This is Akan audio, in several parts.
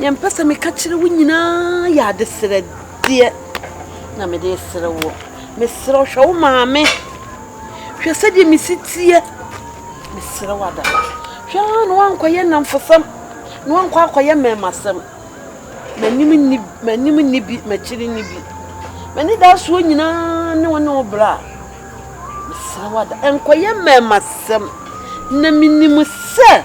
Nea mepɛ sɛ meka kyerɛ wo nyinaa yɛ adesrɛdeɛ na mede resrɛ woɔ. Mesrɛ wo hwɛ wo maame. Hwɛ sɛdeɛ mesi teɛ. Mesrɛ wo ada. Hwɛ ara na woankɔyɛ nnamfosɛm na woankɔ akɔyɛ mmarimasɛm. M'anim nni m'anim nni bi m'akyiri nni bi. M'anidasoɔ nyinaa ne wo ne wo bra. Mesrɛ wo ada. Nkɔyɛ mmarimasɛm na menim sɛ.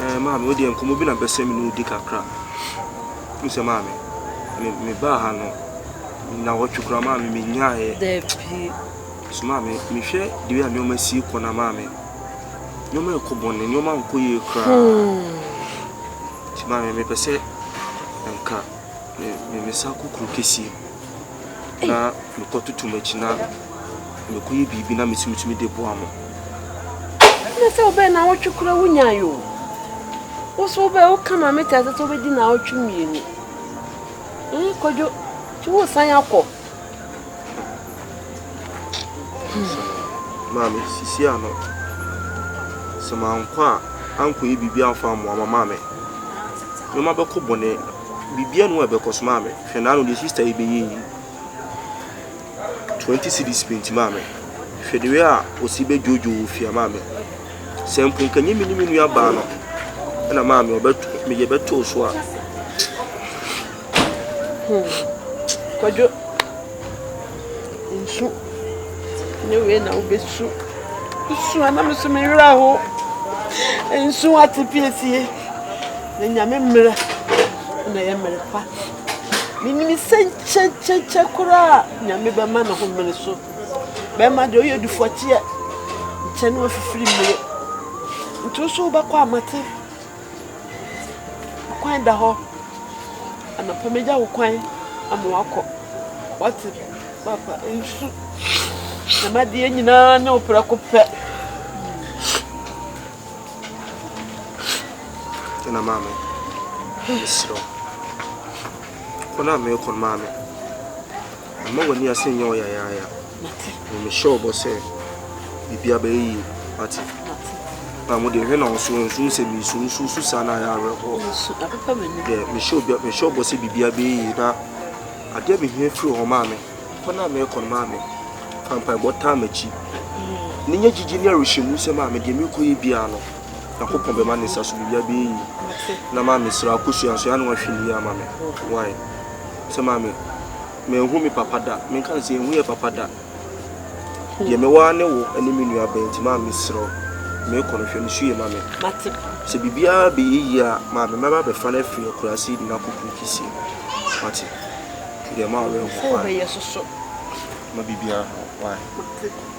Ɛɛ, maame, wo deɛ nkɔmmɔ bi na mpɛ sɛ me ne wo di kakra. Wohu sɛ, maame, me, mebaa ha no, nnawɔtwe koraa, maame, menyaeɛ. Dabi. So maame, mehwɛ deɛ a nneɛma si kɔ na maame, nneɛma rekɔ bɔne, nneɛma nkɔ yie koraa. Hmm. Nti maame, mepɛ sɛ nka. Me me me san kɔ kuro kɛsie na mekɔ tutu m'akyi na mekɔ yɛ biribi na mesi metumi de boa mo. Ɛna sɛ wobɛyɛ na awɔtwe kora wo nyae o. Wo so wobɛyɛ wo ka maame te ase sɛ wobɛdi na awɔtwe mmienu. Ɛn kwadwo nti wo san akɔ Maame, sisi ano. Sɛ mankɔ a, ankɔyɛ biribi amfa ammoa ma maame. Nneɛma bɛkɔ bɔne. Biribiara nni hɔ a ɛbɛkɔ so maame. Hwɛ n'ano deɛ sista yi bɛyɛ yi. Twenty cedis pɛ nti maame. Hwɛ the way a ɔsi bɛdwoodwo wɔ fie a maame. Sɛ mpo nka ɛnyɛ me ne me nuabaa no, ɛna maame ɔbɛto, meyɛ bɛtoo so a. Hmm. Kwadwo. Nsu. Ne wei na wobɛsu. Nsu a na me so me werɛ ho. Nsu ate piesie. Na nyame mmerɛ na yɛ mmerɛ pa. Menim sɛ nkyɛnkyɛnkyɛ koraa nyame bɛma ne ho mmere so. Bɛma deɛ ɔyɛ dufɔteɛ nkyɛ ne wafifiri mmere. Nti wo so wobɛkɔ amate. Kwan da hɔ. Anɔpa megya wo kwan ama wakɔ. Wate papa nsu. Dɛm adeɛ nyinaa ne wo prɛko pɛ. Ɛna maame, mesrɛ wo. Kwan a merekɔ no maame, mma w'ani ase nyɛ wo yayaaya. Mate. Na mehyɛ ɔbɔ sɛ biribi abɛyɛ yie. Mate. Mate. Na mo deɛ hwɛ na ɔso nso sɛ mesu nso su saa na ayɛ awerɛhoɔ. Nsu apepa m'ani. Deɛ mehyɛ obi mehyɛ ɔbɔ sɛ biribi abɛyɛ yie na adeɛ mehia firi hɔ maame. Kɔ na mɛkɔ no maame. Fa mpaebɔ taa m'akyi. Mm. Ne nyɛ gyigye ne arehyɛmu sɛ maame deɛ mekɔ yɛ biara no. Nyankopɔn bɛma ne nsa so biribi abɛyɛ yie. Mate. Na maame sra akɔsua nso ya na wahwɛ ne yie ama me. Why? Sɛ maame Manhu me papa da. Menka no sɛ yɛnhu yɛn papa da. Deɛ mewɔ ara ne wo ne me nua bɛn nti maa mesrɛ wo merekɔ no hwɛ no su yɛ ma me. Sɛ biribiara bɛyɛ yie a maa me mɛba abɛfa no afiri akuraase de no akɔ kuro kɛseɛ mu. Wate? Nti deɛ ma awerɛhoɔ paa. Ma biribiara nhaw wo. Wate?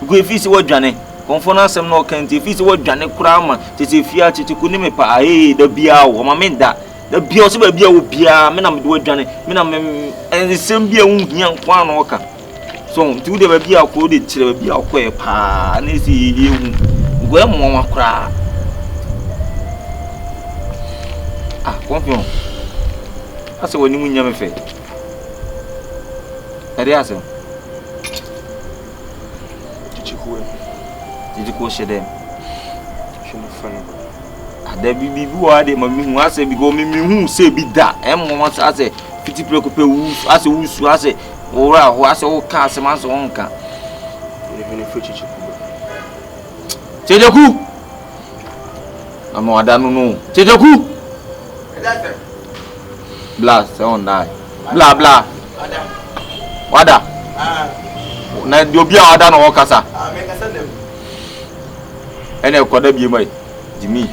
Because efi sɛ wɔadwane. Kɔmfoɔ no asɛm na ɔka nti efi sɛ wɔadwane koraa ma kyɛ sɛ efi akyekye ko ne me paa ee da biara o ɔma me nda da biara ɔsɛ baabi a wɔ biara me na mede wɔadwane me na me nsɛm bi a ɛho hia nko ara na ɔka so nti wo deɛ baabi a ɔkɔ wo deɛ kyerɛ baabi a ɔkɔɛ paa na ɛsɛ yɛyɛ hu nkɔ yɛ mmoawa koraa ah kɔmfoɔ asɛ wɔn anim nyɛ me fɛ. Ɛde ase. Kyekyekuo. Kyekyekuo hyɛ dɛ. Hwɛ no fɛ no. Adabi bi bi wɔ ha deɛ ma mi hu asɛ bi kɔ mi mi hu sɛ bi da ɛmu wɔn asɛ asɛ fiti pere ko pɛ wusu asɛ wusu asɛ wɔwura hɔ asɛ wɔka asɛm asɛ wɔn nka. Ɛhwɛ no fɛ kyekyekuo bɛ. Kyekyekuo. Ama wada no no. Kyekyekuo. Ɛde ase. Bla sɛ wɔn dae. Bla bla wada na deɛ obi a wada na ɔkasa ɛna ɛkɔda bie ma yi gyimi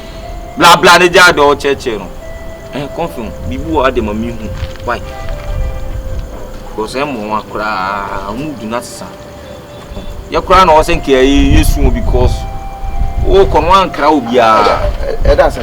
bla bla ne gya deɛ ɔkyɛkyɛ no ɛn kɔnfɛn biribi wɔ ade ma mi hu wai kɔsɛ mɔ wa koraa mu du na sesa yɛ koraa na ɔsɛ nkɛ yɛ yɛ su wɔ because wɔ kɔn wa nkra obiara ɛda sɛ.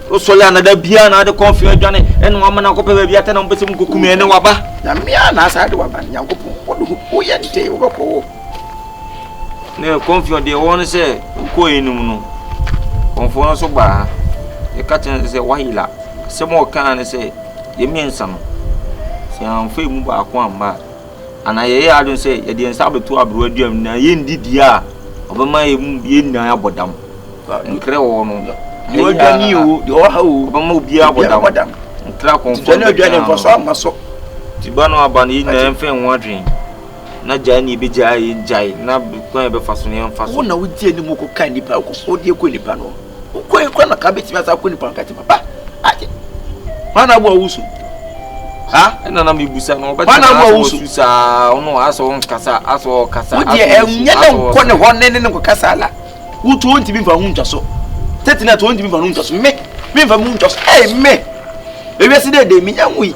Osɔre anada biara na ade kɔn fia adwane ɛna wama no akɔpɛ baabi atɛ na mpɛ sɛ mu kɔkum ɛne waba. Nyame a na asa de waba no Nyankopɔn wode ho woyɛ nte wobɛkɔ wɔ. Ne kɔnfia deɛ ɛwɔ no sɛ wokɔ enum no kɔnfoɔ no so baa ɛka kyerɛ sɛ wayela asɛm a ɔkaa ne sɛ yɛ mmiɛnsa no sɛ amfa emu baako amma a anaa yɛyɛ adwene sɛ yɛde yɛn nsa abɛto aberewa dua mu na yɛndi dua a ɔbɛma yɛn mu yɛn nyinaa abɔ dam nkrɛ wɔ no deɛ ɔdwa ni o deɛ ɔha o ɔbɛma obiara abɔ dam nkra kɔnfɔ ne ɔdwa ne mfaso ama so ti ba no aba no yɛn nyinaa yɛmfa yɛn ho adwene na gyae ne yɛbɛgyae yɛn gyae na kwan yɛbɛfa so ne yɛmfa so wo na wogye anim kɔka nnipa wokɔ so wode kɔ nnipa no Wokɔ yi kɔ na ka betumi asa akɔ nipa nka ti papa. Agye. Hwan na bo awusu? Ha? Ɛna na mebusa no ɔbɛka na aso su saa ɔno aso nkasa aso kasa. Wo deɛ ɛnyɛ ne nkɔ ne hɔ ne ne nkɔ kasa la. Wo to ntumi fa ho ntwa so. Tete na to ntumi fa ho ntwa so. Me me fa mu ntwa so. Ɛy me. Ewiase dɛ dɛ me nya ho yi.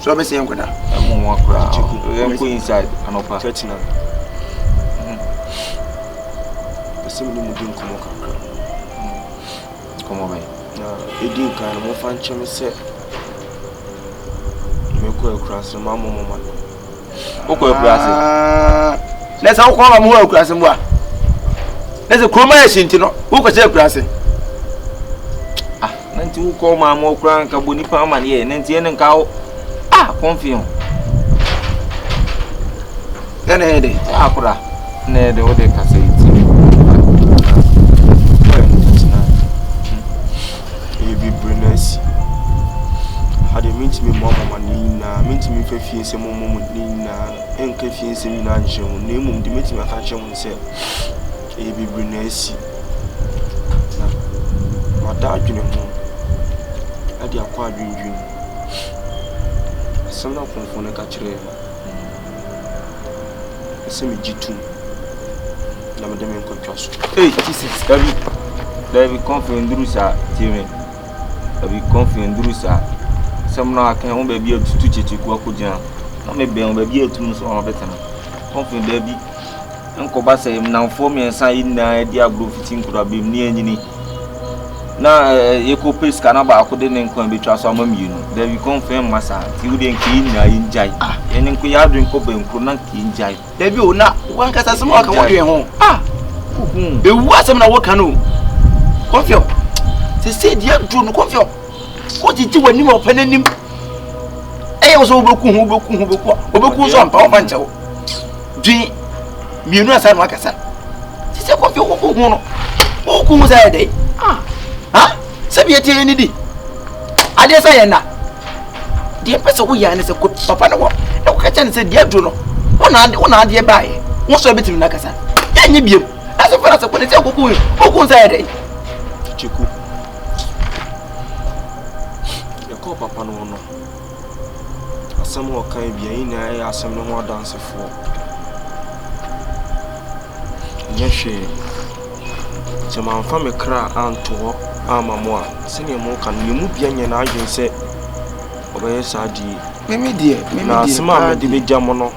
So ɔbɛsɛ yɛn nkɔda? Ɛmu nwa koraa. Yɛn kɔ inside anɔpa. Church na. Ɛsɛ mu ni mu di nkɔmɔ kakra. Nkɔmɔ bɛn. Na edi nkan no mo fa nkyɛn sɛ mekɔ akura sɛ maa mo mo ma no. wokɔ akuraase na sɛ wokɔ wɔn hɔ akuraase mu a na sɛ kurom ayɛ hye nti no wokɔ sɛ akuraase ah na nti wokɔ wɔn ama ɔkura nka bɔ nipa ama ne yɛ na nti ɛne nka wo ah kɔnfi ho ɛna ɛyɛ dɛ akora na ɛyɛ dɛ wode kasa yi ti ɛyɛ bibire na asi. Ha deɛ mentumi mmoa mo amaneɛ nyinaa, mentumi mfa fie nsɛm mmɔ mo ne nyinaa nka fie nsɛm nyinaa nkyerɛ mo. Na mmom deɛ mɛtumi aka akyerɛ mo ne sɛ, ɛyɛ bibire na asi. Na mada adwene ho de akɔ adwendwene mu. Asɛm a Kɔmfoɔ no ka kyerɛɛ me. Ɛsɛ megye tom na mede me nkɔtwa so. Hey, Jesus, dabi, dabi, kɔnfɛ nduru saa, tie me. Dabi, kɔnfɛ nduru saa. Sɛm no aka ho baabi a tutu kyekyekuo akɔgyina. Na mebɛn ho baabi a atum nso wɔn abɛtena. Kɔnfɛ dabi. Ɛnkɔba sɛ nnamfoɔ mmiɛnsa yi nyinaa adi agorɔ fiti nkorabam ne anyini na yɛkɔpɛ sika na baako de ne nkwa bɛtwa so ama mmienu dabi kɔmfɛn mma saa nti wodeɛ nka yɛ nyinaa yɛngyae ah. yɛne nko yɛ adwene kɔ bankuro na nka yɛngyae dabi o na wankasa asɛm a wɔka wɔdwen ho ah. ɛwu asɛm na wɔka no kɔmfɛw sɛ sɛ deɛ aduro no kɔmfɛw wogyegye w'anim a ɔpɛ no anim ɛyɛ wo sɛ wobɛku ho wobɛku ho wobɛku ho wobɛku ho so ampa wɔmfa nkyɛ wo Dwen mmienu ansa na wakasa. Te sɛ kɔmpi wo ko ho no. Wo ko ho sɛ yɛ dɛn? Ah. Ha? Sɛ bi yɛtie ni di. Adeɛ sɛ yɛ nna. Deɛ pɛ sɛ woyɛ ne sɛ kɔ papa no hɔ na woka kyɛ ne sɛ deɛ aduro no wo na adeɛ baeɛ wo sɛ bɛtumi no akasa. Yɛnyɛ biam. Na sɛ fara sɛ kɔ ne sɛ koko wo ko sɛ yɛ dɛn? Kyeko. Yɛkɔɔ papa no hɔ no. Asɛm a ɔka yi bia yɛn nyinaa yɛ asɛm no ho adansefoɔ. Nyɛ hwee. Sɛ mamfa me kra anto hɔ ama mo a, sɛdeɛ moka no, yɛn mu bia nyɛ n'adwene sɛ ɔbɛyɛ saa die. Mimi deɛ, mimi Na deɛ, asɛm a paa mede deɛ. bɛgya mo no,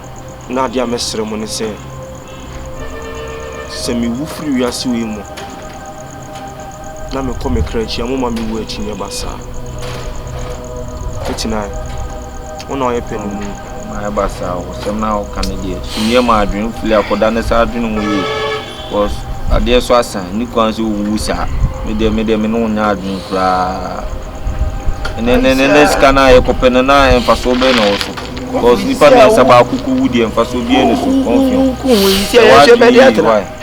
na adeɛ a mɛsrɛ mo ne sɛ, sɛ mewu firi wiase wei mu a, na mekɔ me kra akyi a, momma me wu akyi nyɛ basaa. Titinae, wo na ɔyɛ pɛ no mu. Mayɛ basaa o, sɛm na woka no deɛ, sumiɛ ma adwene fili akɔda ne saa adwene ho yie. Because adeɛ so asan, ni kwan sɛ owuwu saa. Me deɛ, me deɛ, me ne wo nyɛ adwene koraa. Ɛnɛ, ɛnɛ, ɛnɛ, ɛnɛ sika no a yɛkɔpɛ no, na mfasoɔ bɛyɛ na wɔ so. Because nipa mmiɛnsa baako kɔwu deɛ, mfasoɔ biara ni so. Kɔnfio. Sɛ woadwene yie, why?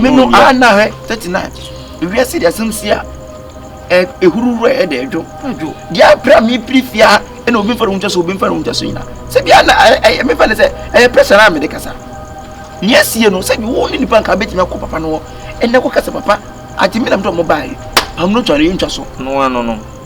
me no a na hwɛ thirty nine ewiase de asɛm si a ehuru wura yɛ de ɛdwo deɛ apira mi piri fia ɛna obi nfa ne ho nkyɛ so obi nfa ne ho nkyɛ so nyina sɛbi a na ɛyɛ mefa ne sɛ ɛyɛ pressure na mede kasa nea asie no sɛbi wo ne nipa nka bɛtumi akɔ papa no hɔ ɛnɛ kɔ kasa papa ate me nam dɛ ɔmo baeɛ pam no twa no yɛntwa so no ano no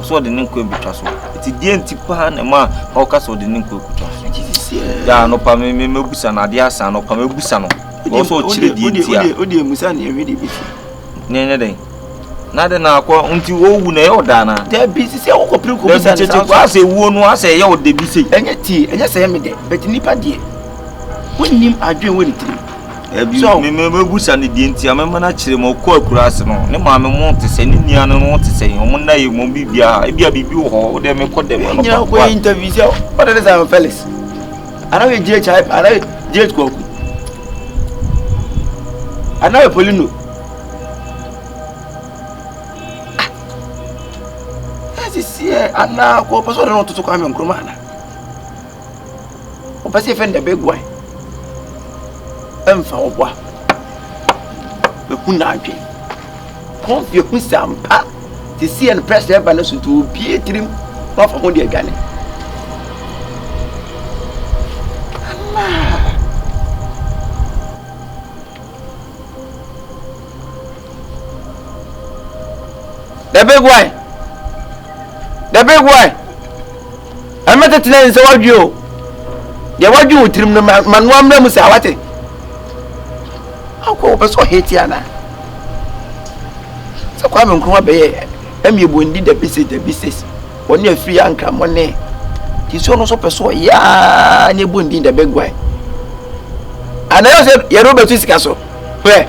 Ɔsɛ ɔde ne nkwa abɛtwa so. Ɛti deɛ nti paa na ɛma ɔka sɛ ɔde ne nkwa akɔtwa so. Yɛ anɔpa me me mɛbusa no adeɛ asa anɔpa mɛbusa no. Ɔwɔ sɛ ɔkyerɛ deɛ nti a. Wode amusa ne ɛhwɛ deɛ bɛsi. Ne ɛnyɛ dɛn. Na de na akɔ nti ɔwu na ɛyɛ ɔdaa na. Dabi sisi akɔkɔ pere kɔ bisa ne saa. Asɛ ewuo no asɛ ɛyɛ ɔde bi sei. Ɛnyɛ tie ɛnyɛ sɛ ɛyɛ me dɛ bɛti nipa deɛ. Wonnim adwene wɔ ne tirim. Ebi so me me busa ne deɛ nti a me ma n'akyerɛ mu ɔkɔ akura ase no ne maame mo te sɛ ne nua no no te sɛ wɔn nna yɛ wɔn bi bia ebi a biribi wɔ hɔ ɔdɛ me kɔ dɛm ɛno nyina kɔ yɛ interview sɛ ɔdɛ ne sɛ Felix anaghɛ GH anaghɛ GH kɔku anaghɛ Polino ɛsisi ɛ anaa kɔ pɛsɛ ɔdɛ no ɔtoto Kwame Nkrumah ana Ɔpɛ sɛ yɛfrɛ no the big one. Ɛmfa wo boa. Bɛhu n'adwene. Kɔmfi ahu sɛ ampa te sɛ yɛn press ɛba no so nti obie tirim na wafa ho de adwane. Anaa. The big why. The big why. Ɛmɛ tete na nsɛ wadwi o. Deɛ wadwi wo tirim no ma ma no amena mu saa wate. Akɔ wɔpɛ sɛ ɔhe ti ana. Sɛ kwa me nkroma bɛyɛ ɛmi ebu ndi dabi se dabi se. Wɔne afiri ankramɔ ne. Ti so no so pɛ so ɔyaa ne bu ndi the big why. Ana yɛ sɛ yɛrɛ bɛtu sika so. Hwɛ.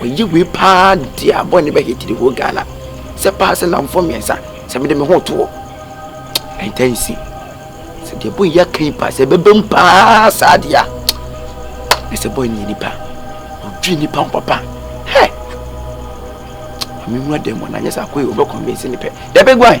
Mayi wei paa de a bɔne bɛ hit the whole Ghana. Sɛ paa sɛ namfo mmiɛnsa sɛ mede me ho to hɔ. Ɛntɛnsi. Sɛ deɛ bɔ yi aka yi paa sɛ ɛbɛbɛ mu paa saa deɛ a na sɛ bɔ yi nipa. Odwi nipa ho papa. Hɛ! Ame nwura dɛm wɔ na nyɛ sɛ akɔ yi wɔbɛ convince ne pɛ. Dɛbɛ guan!